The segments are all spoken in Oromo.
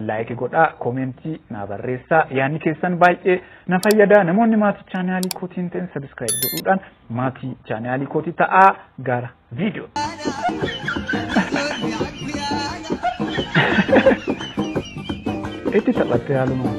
Like godhaa, comment naa barreessaa. Yaanni keessan baay'ee na fayyada. Namoonni maatii chaanaalii kootii hin ta'in subscribe godhuudhaan maatii chaanaalii kootii ta'aa gara viidiyoo. Itti taphattee haalumaan.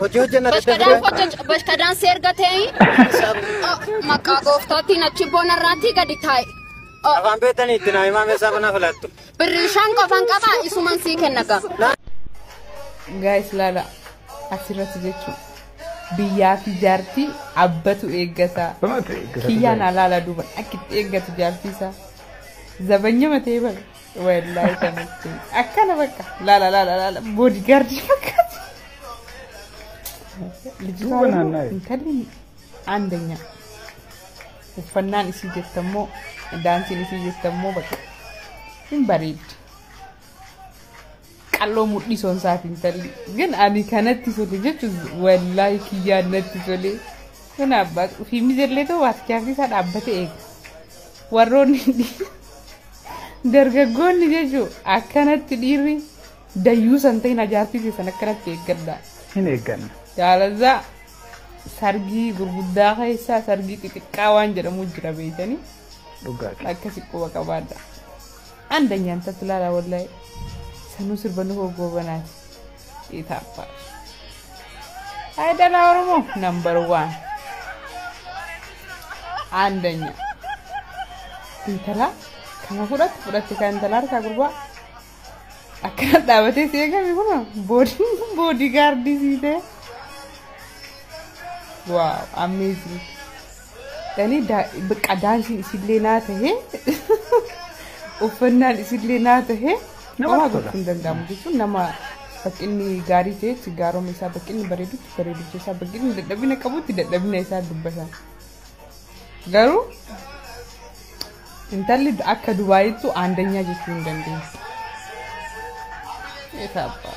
Hojii hojjenna Bashkadaan daddafee. hojjecha bashkadaan si erga ta'e maqaa gooftaatiin achi boona irraatti gadi taa'e. Oh, Afaan beektanii itti naa himaa meeshaa banaa filattu. Birrii shan qofan qaba isuman sii kenna gaa. Gaayis laala asirratti jechuun biyyaa fi jaartii abbatu eeggata. Kiyyaan alaala duuban akkitti eeggatu jaartii isaa. Zabanyama ta'ee bara. Wallahi kanatti akkana bakka laala laala laala boodigaardii fakkaatu. Duuba naanna'e. Intalli aandanyaa. Uffannaan isii jettammoo daansiin isii jettammoo bakka hin bareeddi. qalloo mudhii sonsaati intalli gin ani kanatti sote jechu wallaahi kiyyaan natti tolee kun abbaa fi mijallee ta'u waatichaafii isaa dhaabbate eega warroonni dhi- dargaggoonni jechu akkanatti dhiirri dayyuu san ta'in ajaartii keessan akkanatti eeggadha hin eegganna. jaalazaa sargii gurguddaa keessaa sargii xixiqqaa waan jedhamu jira beeytanii Dhugaati. akkasi quba qabaadha Andanyan tatu lala wallahi sanu sirba nuho gobanati itapa Hai dala oromo number one andanya intala kana fudhatti fudhatti kan intala harkaa gurbaa akkana dhaabatee si eegame kun boodii boodii gaardii sii ta'e waaw amazing Ani bakka daansiin isillee naa tahe uffannaan isillee naa tahe homaa gochuu hin danda'amu jechuun nama baqqinni gaarii ta'etti gaaroma isaa baqqinni bareedutti bareedumsa isaa baqqinni dadhabina qabutti dadhabina isaa dubbatan. Garuu intalli akka dubaayittu aandanyaa jechuu hin dandeenye. Eessa abbaa?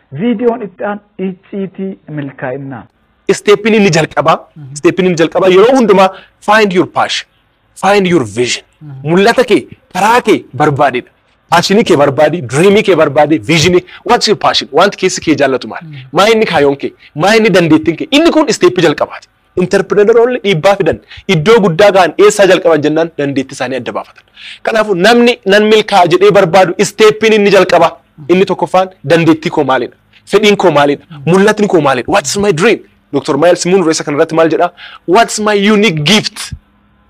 Viidiyoon itti aanu icciitii milkaa'innaa. Isteeppiin inni jalqabaa, isteeppiin inni jalqabaa yeroo hundumaa find your passion, find your vision. Mul'ata kee, karaa kee barbaadidha. Paashinii kee barbaadi, diriimii kee barbaadi, viizinii, what's your passion? Wanti keessi kee jaallatu maali? Maa inni kaayoon kee? Maa inni dandeettiin kee? Inni kun isteeppii jalqabaati. Interpreneroonni dhiibbaa fidan iddoo guddaa gahan eessaa jalqaban jennaan dandeettii isaanii adda baafatan. Kanaafuu namni nan milkaa'a jedhee barbaadu isteeppiin inni jalqabaa inni tokkoffaan dandeettii koo maalidha? Fedhiin koo maalidha? Mul'atni koo maalidha? What's my dream? Dr. Miles Munro isa kanarratti maal jedhaa? What's my unique gift?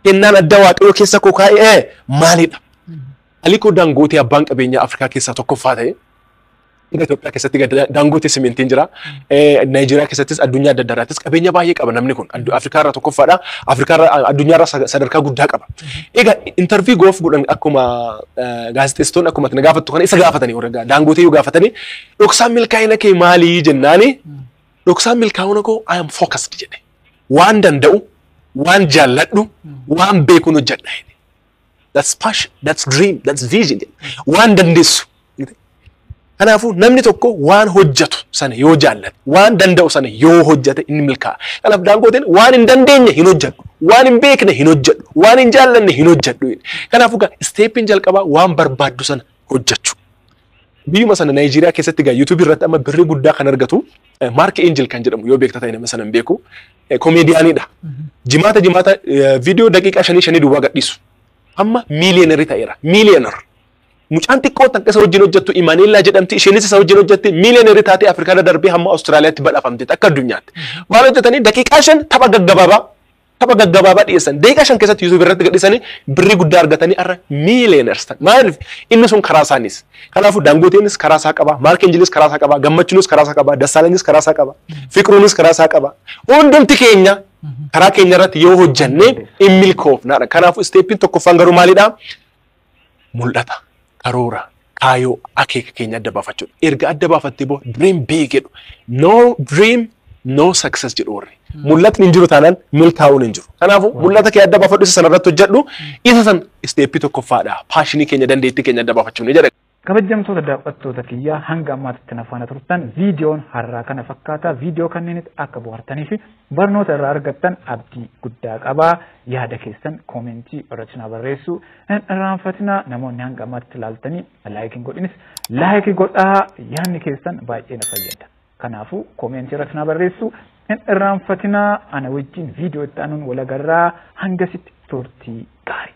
Kennaan adda waaqayyoo keessa koo kaa'e maalidha? Aliko Dangootee abbaan qabeenyaa Afrikaa keessaa tokkoffaa ta'e Biyya Itoophiyaa keessatti gad- daangooti simintiin jira. Eh, Naayijeeriyaa keessattis addunyaa adda addaarraattis qabeenya baay'ee qaba namni kun. Addu- Afrikaa irraa tokkoffaadha. Afrikaa irraa addunyaa irraa sa- sadarkaa guddaa qaba. Egaa intarvii goof godhan akkuma eh, gaazexeessitoonni akkuma na gaafattu kana isa gaafatanii warra gaa- daangootee yoo gaafatanii dhoksaan milkaa'ina kee maalii jennaani dhoksaan milkaa'ina koo I am focused jedhe. Waan danda'u, waan jaalladhu, waan beekuun hojjedha jedhe. that's passion, that's dream, that's vision. Waan dandeessu. Kanaafuu namni tokko waan hojjetu sana yoo jaallate, waan danda'u sana yoo hojjete inni milkaa'a. Kanaaf daangooteen waan hin dandeenye hin hojjedhu, waan hin beekne hin hojjedhu, waan hin jaallanne hin hojjedhu. Kanaafuu isteeppiin jalqabaa waan barbaaddu sana hojjechu. Biyyuma sana Naayijeeriyaa keessatti egaa YouTube irratti amma birrii guddaa kan argatu Maark Eenjil kan jedhamu yoo beekta ta'e nama sana hin beeku. Komeediyaaniidha. Jimaata jimaata viidiyoo daqiiqaa shanii shanii duwwaa gadhiisu. Amma miiliyonerii ta'eera. Miiliyoner. Mucaan xiqqoo takka isa wajjin hojjettu Imaneellaa jedhamti. Isheenis isa wajjin hojjetti miiliyonerii taatee Afrikaarra darbee hamma Awustiraaliyaatti badhafamteetti akka addunyaatti. Maal hojjetanii daqiiqaa shan tapha gaggabaabaa tapha gaggabaabaa dhiyeessan daqiiqaa shan keessatti YouTube irratti gadhisanii birrii guddaa argatanii har'a miiliyeeners ta'an. Maaliif inni sun karaa isaaniis. Kanaafuu Daangoteenis karaa isaa qaba, Maark Enjiliis karaa isaa qaba, Gammachiinis karaa isaa qaba, Dassaalanyis karaa isaa qaba, Fiqruunis karaa isaa qaba. Hundumti keenya karaa keenya irratti yoo hojjannee in milkoofnaadha. Kanaafuu isteeppiin tokkoffaan garuu maalidhaa? mul'ata, karoora, kaayoo, akeeka keenya adda baafachuudha. Erga adda baafattee boo dream big jedhu. No dream no success jedhu warri. Mul'atni hin jiru taanaan milkaa'uun hin jiru. Kanaafuu mul'ata kee adda baafadhu isa sana irratti hojjedhu. Isa san isteeppii tokkoffaadha. Paashinii keenya dandeettii keenya adda baafachuu ni jedha. Kabajamtoota daawwattoota kiyyaa hanga ammaatitti na faana turtan viidiyoon har'aa kana fakkaata. Viidiyoo kanneenitti akka bohaartanii fi barnoota irraa argattan abdii guddaa qaba. Yaada keessan koomentii irratti na barreessuu hin irraanfatina. Namoonni hanga ammaatitti ilaaltanii laayikii hin godhinis laayikii godhaa yaadni keessan baay'ee na fayyada. Kanaafuu koomentii irratti na barreessuu hin irraanfatina. Ana wajjin viidiyoo itti aanuun walagarraa hangasitti turtii gaarii.